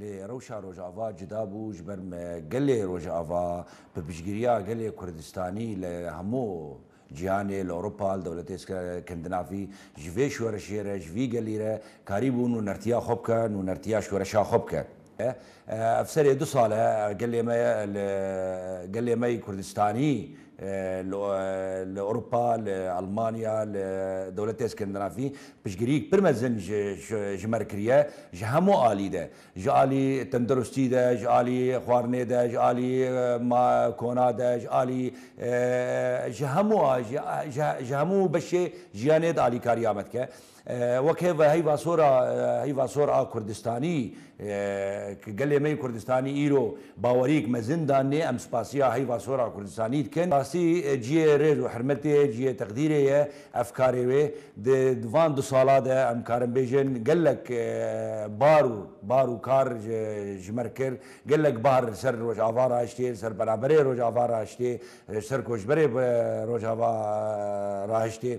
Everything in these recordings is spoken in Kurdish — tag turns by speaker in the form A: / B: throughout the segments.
A: Lê rewşa Rojava cuda bû ji ber me gelê Rojava bi piştgiriya gelê Kurdistanî li hemû cîhanê, li Ewropa, li dewletê Skandinavî ji vê şoreşê re, ji vî gelî re karî bû nûnertiya xwe bike, nûnertiya şoreşa xwe bike. Ev serê du sal e gelê me li gelê me yê Kurdistanî li Ewropa, li Elmanya, li dewletê Skandinavî Piştgiriyek pir mezin ji me re kiriye ji hemû alî de, ji alî tendirustî de, ji alî xwarinê de, ji alî kona de, ji alî ji hemû ji hemû beşê jiyanê de alîkariya me dike. Wek hêv heyva sor a heyva sor a kurdistanî Ku gelê me yê Kurdistanî îro baweriyek mezin danê, em spasiya heyva sora Kurdistanî dikin. Rastî ciyê rêz û hirmetê ye, ciyê teqdîrê ye ev karê wê. Di van du sala de em karin bêjin gelek bar û bar û kar ji me re kir. Gelek bar li ser Rojava rahiştê, li ser penaberê Rojava rahiştê, li ser koçberê Rojava rahiştê.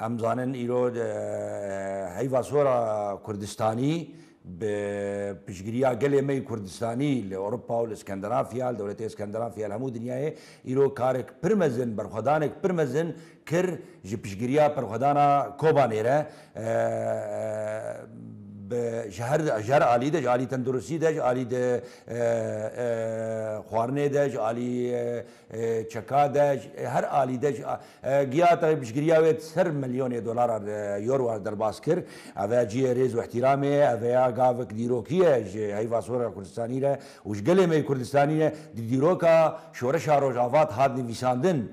A: Em zanin îro heyva sora Kurdistanî bi piştgiriya gelê me yê Kurdistanî li Ewropa û li Skandinafya, li dewletê Skandinafya li hemû dinyayê îro karek pir mezin, berxwedanek pir mezin kir ji piştgiriya berxwedana Kobanê re bi ji her ji her alî de ji alî tenduristî de ji alî xwarinê de ji alî Çeka de ji her alî de ji giyata piştgiriya wê di ser milyonê dolaran euroan derbas kir. Ev e cihê rêz û îhtîramê ye. Ev heya gavek dîrokî ye ji heyva sora Kurdistanî re û ji gelê me yê Kurdistanî re. Di dîroka şoreşa Rojava de hat nivîsandin.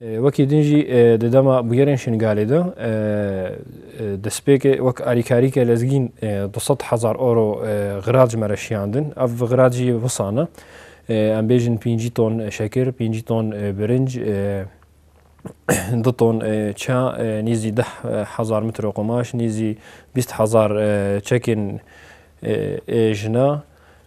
A: Wekî din jî di dema bûyerên Şingalê de destpêkê wek alîkarîke lezgîn du sed hezar oro xirac me re şiyandin. Ev xirac jî wisan e. Em bêjin pêncî ton şekir, pêncî ton birinc, du ton ça, nêzî deh hezar mitro qumaş, nêzî bîst hezar çekên jina,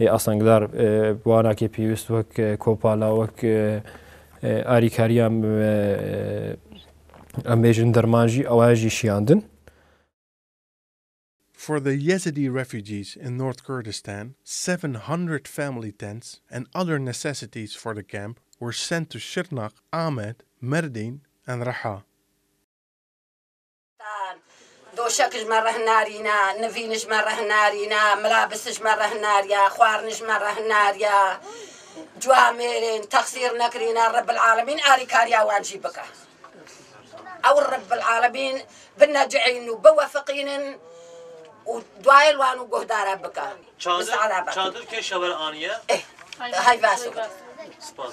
A: Ê asengdar bi wanakê pêwîst wek kopala wek arîkariya em bêjin derman jî ewa jî şiyandin. For the Yazidi refugees in North Kurdistan, seven hundred family tents and other necessities for the camp were sent to Şirnak, Amed, Merdîn and Reha. Doşek ji me reh narîne, nivîn ji me reh narîne, milabis ji me reh nariye, xwarin ji me reh nariye. Cuwa mêrên texsîr nekirîne Rebbil Alemîn alîkariya wan jî bike. Ew Rebbil Alemîn binecihînin û biwefiqînin û dayên wan û guhdara bike. Çadir çadir kê şewer aniye? Hay baş. Spas.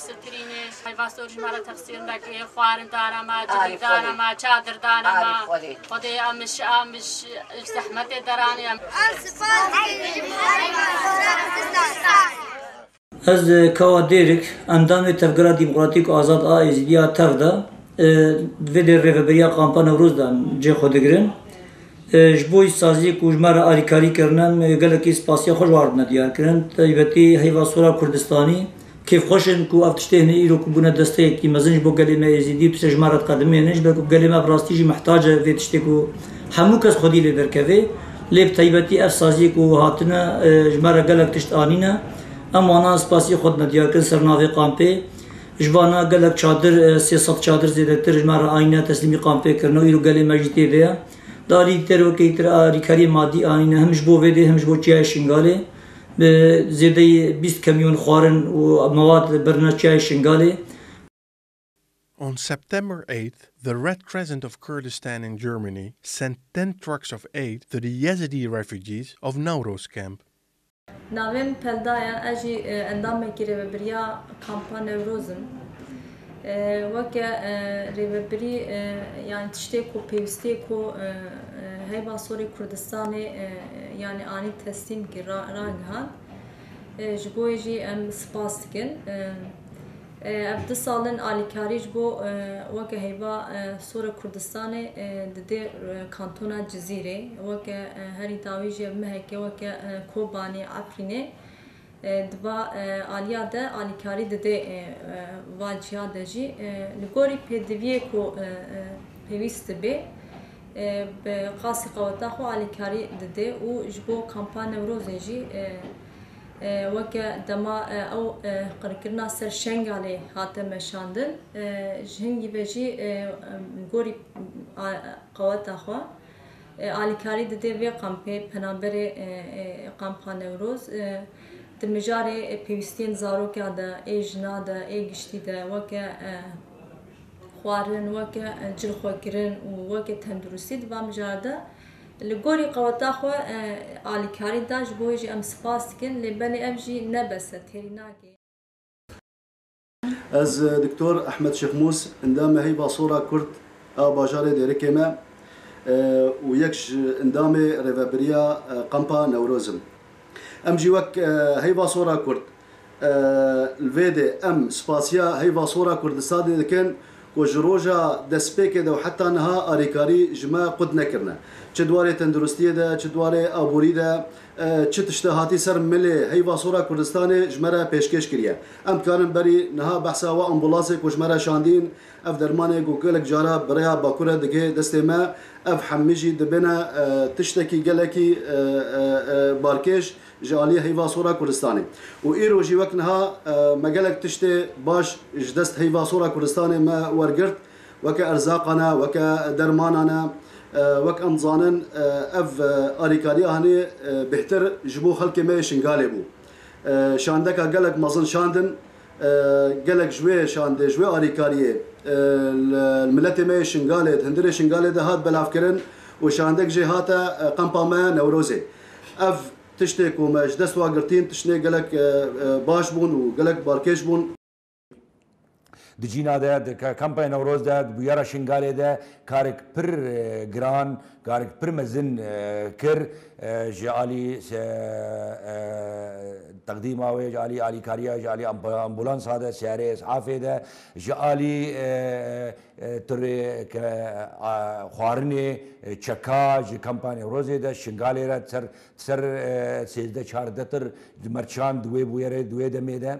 A: Sittirînê, Peyvastor jî ma re texsîr neke yê, xwarin dana ma, civîk dana ma, çadir dana ma. Xwedê em ji em ji zehmetê deraniye. Ez sipas dikîjim Peyvastora Kurdistanê. Ez Kawa Dêrik, endamê Tevgera Demokratîk Azad a Êzidî ya tev de di vê dê Rêveberiya Kampa Newroz de em cê xwe digirin. Ji bo îşsaziyê ku ji me re alîkarî kirine em gelekî spasiya xwe ji wan re dine diyarkirin. Taybetî Heyvastora Kurdistanî Kêfxweş in ku ev tiştê hene îro ku bûne desteyekî mezin ji bo gelê me Êzîdî û tu ser ji me re diqedimî hene ji ber ku gelê me bi rastî jî mihtac e vê tiştê ku hemû kes xwedî lê derkeve. Lê bi taybetî ev saziyê ku hatine ji me re gelek tişt anîne. Em wanan spasî xwe dime diyar kirin ser navê kampê. Ji vana gelek çadir sê sed çadir zêdetir ji me re anîne teslîmî kampê kirine û îro gelê me jî tê de ye. Di aliyî dikterovekeyî tira alîkariyê madî anîne him ji bo vê dê him ji bo çiyayê Şingalê. bi zêdeyî bîst kamyon xwarin û mewad birine Çiyayê Şingalê. On September eighth, the Red Crescent of Kurdistan in Germany sent ten trucks of aid to the Yazidi refugees of Nowroz camp. Navê min Pelda ye, ez jî endamekî Rêvebiriya Kampa Newroz im. Weke Rêvebirî yanî tiştê ku pêwîstî ku Heyva Sorê Kurdistanê yanî anî teslîmkî ragihand. Ji bo wê jî em spas dikin. Ev du sal in alîkarî ji bo weke Heyva Sorê Kurdistanê didê kantona Cizîrê. Weke herî dawî jî ev mehekê weke Kobanê, Efrînê Di va aliya de alîkarî didê va ciya de jî li gorî pêdiviyê ku pêwîst dibê bi qasî qeweta xwe alîkarî didê û ji bo kampa Newrozê jî weke dema ew qirkirina ser Şengalê hate meşandin ji hingî ve jî gorî qeweta xwe Alîkarî dide vê kampê penaberê Kampa Newroz di mijarê pêwîstiyên zarokan de ê jinan de ê giştî de weke xwarin, weke cilxwekirin û weke tenduristî di van mijar de li gorî qeweta xwe alîkarî da ji bo wê jî em spas dikin lê belê ev jî ne bes e têrî nake. Ez Doktor Ehmed Şêxmûs, endamê Heyva Sora Kurd a bajarê Dêrikê me û yek ji endamê Rêveberiya Kampa Newroz im. Em jî wek Heyva Sora Kurd li vê dê em spasiya Heyva Sora Kurdistanê dikin ku ji roja destpêkê de û heta niha alîkarî ji me qut nekirine. Çi di warê tenduristiyê de, çi di warê aborî de, Çi tişte hatî ser milê heyva sor a Kurdistanê ji me re pêşkêş kiriye. Em dikarin berî niha behsa wê ambûlansê ku ji me re şandîn, ev dermanê ku gelek caran bi rêya Bakur re digê destê me, ev hemî jî dibêne tiştekî gelekî barkêş ji aliyê heyva sor a Kurdistanê. Û îro jî wek niha me gelek tiştê baş ji dest heyva sor a Kurdistanê me wergirt. weke erzaqan e, weke dermanan e. Wek em dizanin ev alîkariya hanê bêhtir ji bo xelkê me yê Şingalê bû. Şandeka gelek mezin şandin. Gelek ji wê şandê, ji wê alîkariyê li miletê me yê Şingalê, di hundirê Şingalê de hat belavkirin û şandek jê hate qempa me Newrozê. Ev tiştê ku me ji dest wa girtîn, tiştên gelek baş bûn û gelek balkêş bûn. Di cîna de di kampaya Newroz de di bûyera Şingalê de karek pir giran, karek pir mezin kir ji alî teqdîma wê, ji alî alîkariya, ji alî ambulansa de, seyarê es'afê de, ji alî tirê ke xwarinê çeka ji kampaya Newrozê de Şingalê re ser ser sêzdeh çardeh tir mercan di wê bûyerê di wê demê de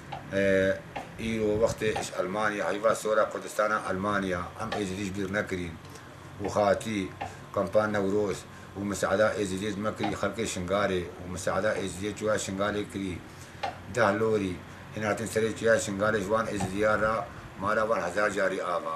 A: Îro wextê iş Elmanya heyva sora Kurdistana Elmanya em Êzidî ji bîr nekirîn û hatî kampa Newroz û miseada Êzidiyê ji me kirî xelkê Şingalê û miseada Êzidiyê çûya Şingalê kirî deh lorî hîn hatin serê çûya Şingalê ji wan Êzidiyan re mala wan hezar carî ava.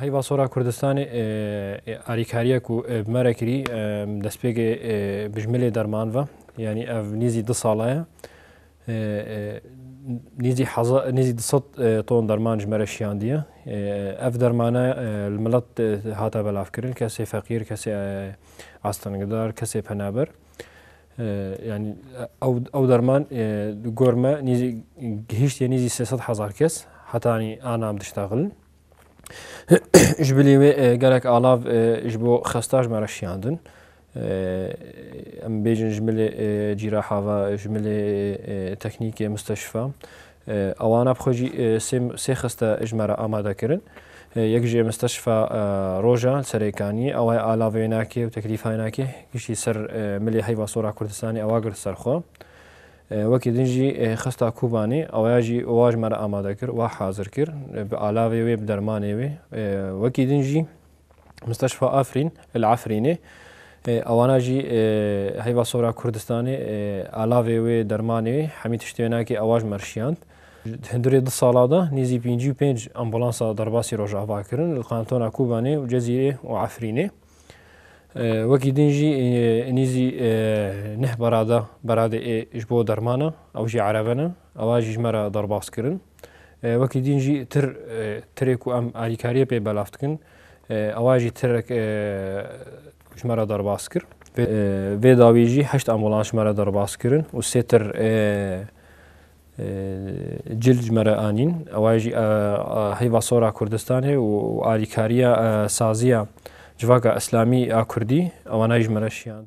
A: Heyva Sora Kurdistanê alîkariya ku bi me re kirî destpêkê bijmilê derman ve yanî ev nîzî du sala ye nîzî nîzî du sed ton derman ji me re şiyandiye ev dermane li milet hate belavkirin kesê feqîr kesê astengidar kesê penaber Yanî ew derman di gor me nîzî gihîştiye nîzî sê sed hezar kes heta yanî ana em diştexilin. Ji bilî wê gelek alav ji bo xesta ji me re şiyandin. Em bêjin ji milê cîraha ve, ji milê teknîkê misteşfa Awana bi xwe jî sê sê xiste ji me re amadekirin. Yek ji Misteşfa Roja li Serêkaniyê awa ye ala vênakê û teklîfenakê giştî ser milê heyva sor a Kurdistanê awa girt ser xwe. Wekî din jî xista Kobanê awaya jî wa ji me re amade kir, wa hazir kir bi alavê wê bi dermanê wê. Wekî din jî Musteşfa Afrîn li Efrînê ewana jî heyva sora Kurdistanê alavê wê dermanê wê hemî tiştê wê nakê ewa ji me rişiyand. Hindurê du sala de nêzî pêncî û pênc ambulansa derbasî rojava kirin li kantona Kobanê û Cezîrê û Efrînê. Wekî din jî nêzî neh berada beradê ê ji bo dermana ew jî erebe ne Ava jî ji me re derbas kirin. Wekî dîn jî tir tirê ku em alîkariyê pê belav dikin ava jî tirek ji me re derbas kir. Vê dawî jî heşt ambulans ji me re derbas kirin û sê tir cil ji me re anîn. Ava jî heyva sora Kurdistanê û alîkariya saziya civaka îslamî a Kurdî ewana jî ji me re şiyan.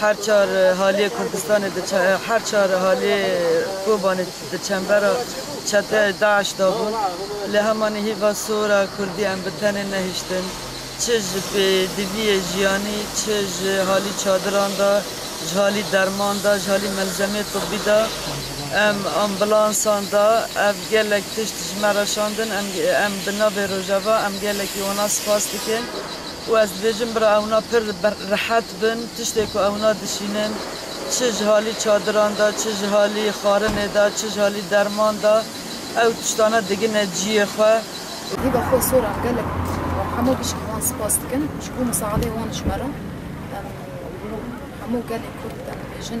A: Her çar haliyê Kurdistanê diçe her çar haliyê Kobanê di çembera çeteyê DAIŞ de bûn. Lê hemanî hîva sor e Kurdî em bi tenê nehiştin. Çi ji pêdiviyê jiyanî, çi ji halî çadiran de, ji halî derman de, ji halî melzemeyê tibî de, em ambulansan de ev gelek tişt ji me re şandin. Em em bi navê Rojava em gelekî wana spas dikin. Û ez dibêjim bira ewna pir rehet bin tiştê ku ewna dişînin çi ji halî çadiran de çi ji halî xwarinê de çi ji halî derman de ew tiştane digine ciyê xwe. Wî bi xwe sorax gelek û hemû bişkî wan spas dikin ji bo misaadê wan ji me re em û hemû gelê kurd em dibêjin.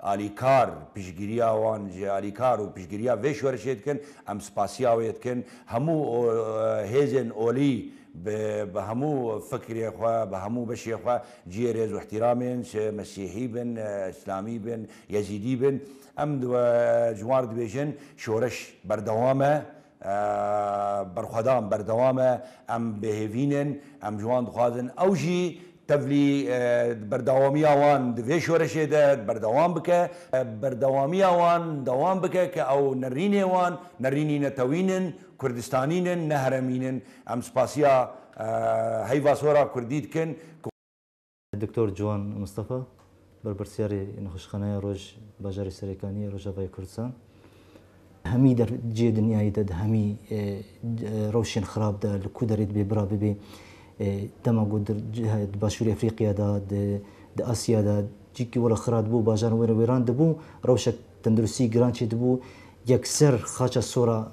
A: Alîkar, piştgiriya wan ji alîkar û piştgiriya vê şorişê dikin, em spasiya wê dikin, hemû hêzên olî bi bi hemû fikrê xwe, bi hemû beşê xwe cihê rêz û îhtîramên, çi mesîhî bin, îslamî bin, yezîdî bin, em ji wan re dibêjin, şoreş berdewam e, Berxwedan berdewam e, em bêhêvîn in, em ji wan dixwazin ew jî tevlî berdewamiya wan di vê şoreşê de berdewam bike, berdewamiya wan dewam bike ke ew nerînê wan, nerînî netewîn in, kurdistanîn in, ne heremîn in. Em spasiya heyva sora kurdî dikin. Doktor Ciwan Mistefa, berpirsyarê Nexweşxaneya Roj bajarê Serêkaniyê ya Rojavayê Kurdistan, Hemî der cihê dinyayê de di hemî rewşên xirab de li ku derê dibê bira bibê. Dema ku di Başûrê Efrîqya de, di Asya de cihekî were xira dibû û bajaran were wêran dibû, rewşek tenduristî giran çê dibû. Yekser xaça sora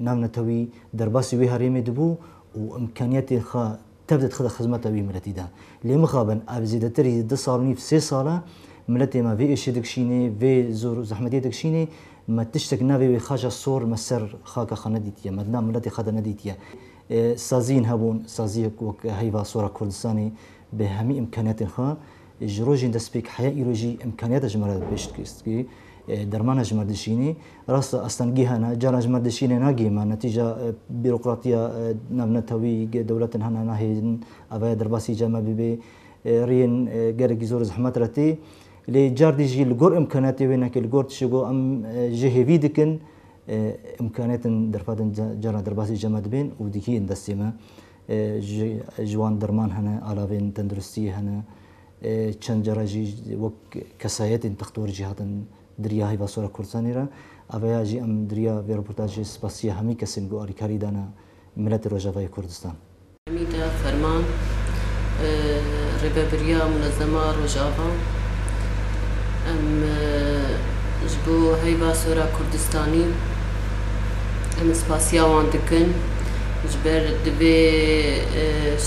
A: navnetewî derbasî wê herêmê dibû û imkaniyetên xwe Tev dê dixîne xizmeta wî miletî de. Lê mixabin ev zêdetir hî du sal û nîv sê sal e miletê me vê êşê dikişînê, vê zor û zehmetê dikişînê. Me tiştek navê wê xaca sor li ser xaka xwe nedîtiye, me di nav miletê xwe de nedîtiye. Saziyên hebûn, saziyek wek heyva sora Kurdistanê bi hemî îmkaniyatên xwe, Ji rojên destpêk heya îro jî îmkaniyata ji me re bi pêş dikevîst ku dermana ji me dişînî. Rast e astengîhan e, caran ji me dişînê nagihê me. Netîca bîrokratiya navnetewî dewletin hene nahêlin avaya derbasî ca me bibê. Riyên gelekî zor zehmet re tê. Lê cardî jî li gor îmkaniyatê wê neke li gor tişê ku em jê hêvî dikin îmkaniyatin derfetin caran derbasî ca me dibên û dikî yên destê me. Ji wan derman hene, alavên tenduristiyê hene. Çend care jî wek kesayetên textor jî hatin dirîya heyva sora Kurdistanê re. Aveya jî em dirîya vê reportajê spasîya hemî kesên ku alîkarî dane miletê Rojavayê Kurdistan. Hemîda Ferman, Rêvebirîya Munezema Rojava, Em ji bo heyva sora Kurdistanî em spasîya wan dikin. Ji ber divê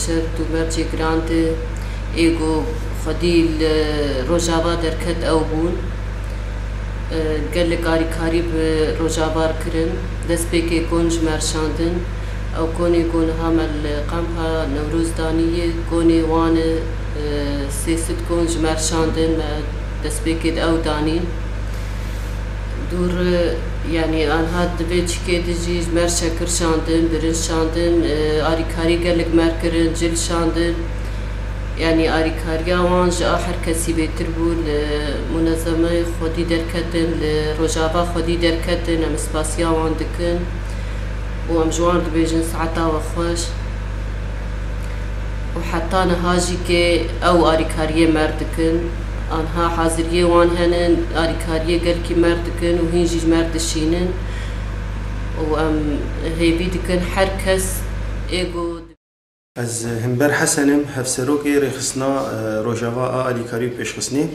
A: şert û mercê giran de ê ku xwedî li Rojava derket ew bûn. Gelek alîkarî bi Rojavar kirin. Destpêkê kon ji me re şandin. Ew konê ku niha me li Kampa Newroz danî ye, konê wan e. Sê sed kon ji me re şandin, me destpêkê di ew danîn. Dûr yanî anha divê çikê de jî ji mer şekir şandin, birinc şandin, arîkarî gelek mer kirin, cil şandin. Yanî arîkariya wan ji a her kesî bêtir bû. Li munezemeyê xwedî derketin, li rojava xwedî derketin. Em spasiya wan dikin û em ji wan dibêjin saeta we xweş. Û heta niha jî kê ew arîkariyê mer dikin. Anha haziriyê wan henin, alîkariyê gelkî merg dikin û hîn jî merg dişînin û em hêvî dikin her kes ê ku. Ez Himber Hesen im, Hevserokê Rêxistina Rojava a Alîkarî û Pêşxistinê.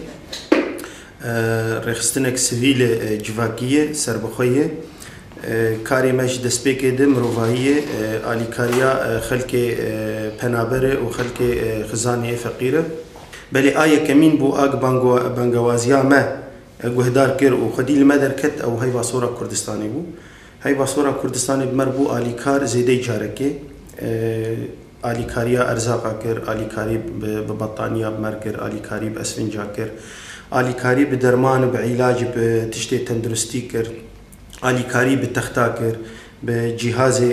A: Rêxistinek sivîl e, civakî ye, serbixwe ye. Karê me ji destpêkê di mirovahî ye, alîkariya xelkê penaber e û xelkê xizanê yê feqîr e. Belê a yekemîn bû a ku bangewaziya me guhdar kir û xwedî li me derket ew heyva sora Kurdistanê bû. Heyva sora Kurdistanê bi me re bû alîkar zêdeyî carekê. Alîkariya erzaqa kir, alîkarî bi bettaniya bi me re kir, alîkarî bi esfinca kir, alîkarî bi derman û bi îlacî bi tiştê tenduristî kir, alîkarî bi texta kir, bi cîhazê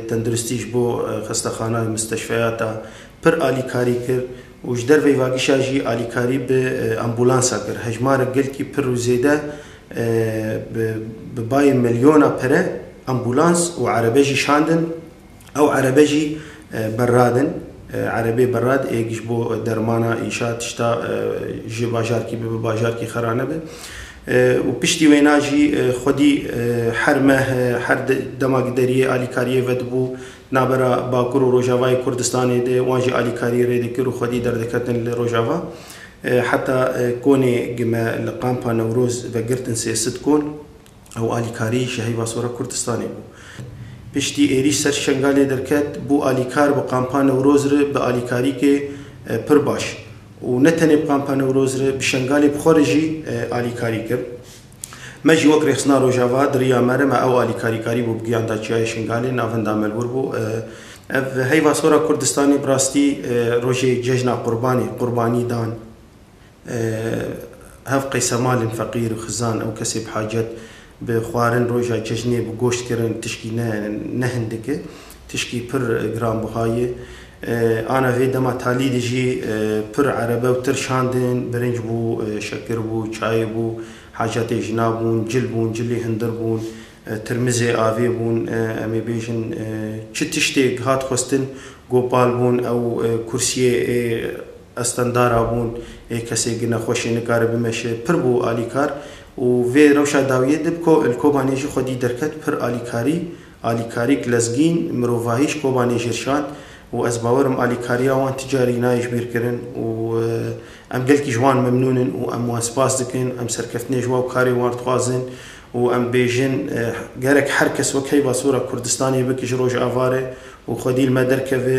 A: tenduristî ji bo xestexana, musteşfeyata pir alîkarî kir û ji derveyî vagişa jî alîkarî bi ambulansa kir. Hejmarek gelkî pir û zêde bi bayê milyona pire ambulans û erebe jî şandin. Ew erebe jî berrad in. Erebê berrad ê ji bo dermana înşa tişta ji bajarkî bibe bajarkî xera nebe û piştî wêna jî xwedî her meh her dema deriyê alîkariyê vedibû Navbera Bakur û Rojavayê Kurdistanê de wan jî alîkarî rê dikir û xwedî derdiketin li Rojava. Heta konê gi me li Kampa Newroz vegirtin sê sit kon ew alîkarî ji heyva sora Kurdistanê bû. Piştî êrîş ser Şengalê derket bû alîkar bi Kampa Newroz re bi alîkarîkê pir baş û ne tenê bi Kampa Newroz re bi Şengalê bi xwe re jî alîkarî kir. Me jî wek Rêxistina Rojava di riya me re me ew alîkarî karî bû bi giyan da Çiyayê Şingalê navinda me li wir bû. Ev heyva sora Kurdistanê bi rastî rojê cejna qurbanê, qurbanî dan hev qeysemalên feqîr, xizan û kesê bi hacet bi xwarin roja cejnê bi goşt kirin tişkî ne ne hindik e tişkî pir giranbiha ye. Ana vê dema talî de jî pir erebe û tir şandin, birinc bû, şekir bû, çayê bû, hacatê jina bûn, cil bûn, cilê hundir bûn, tirmizê avê bûn, em ê bêjin çi tiştêk hat xwestin, gopal bûn, ew kursiyê ê estendara bûn, ê kesê gine xweş ê nikare bimeşe, pir bû alîkar û vê rewşa dawiyê de bi Kobanê jî xwedî derket pir alîkarî, Alîkarî Glezgîn, mirovahî ji Kobanê Jirşan û ez bawer im alîkariya wan ti carî nayê ji bîr kirin û em gelkî ji wan memnûn in û em wan spas dikin. Em serkeftinê ji wan karê wan dixwazin û em bêjin gerek her kes wek heyva sora Kurdistanê bike ji Rojava re û xwedî li me derkeve.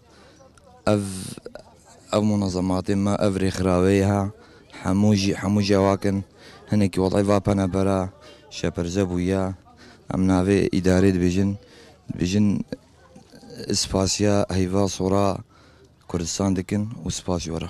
A: Ev ev munazematê me ev rêxirawê ye hemû jî hemû cewak in. Hinekî welay va pene bera şeperze bûye. Em navê îdarê dibêjin dibêjin spasiya heyva sora Kurdistan dikin û spas jî were.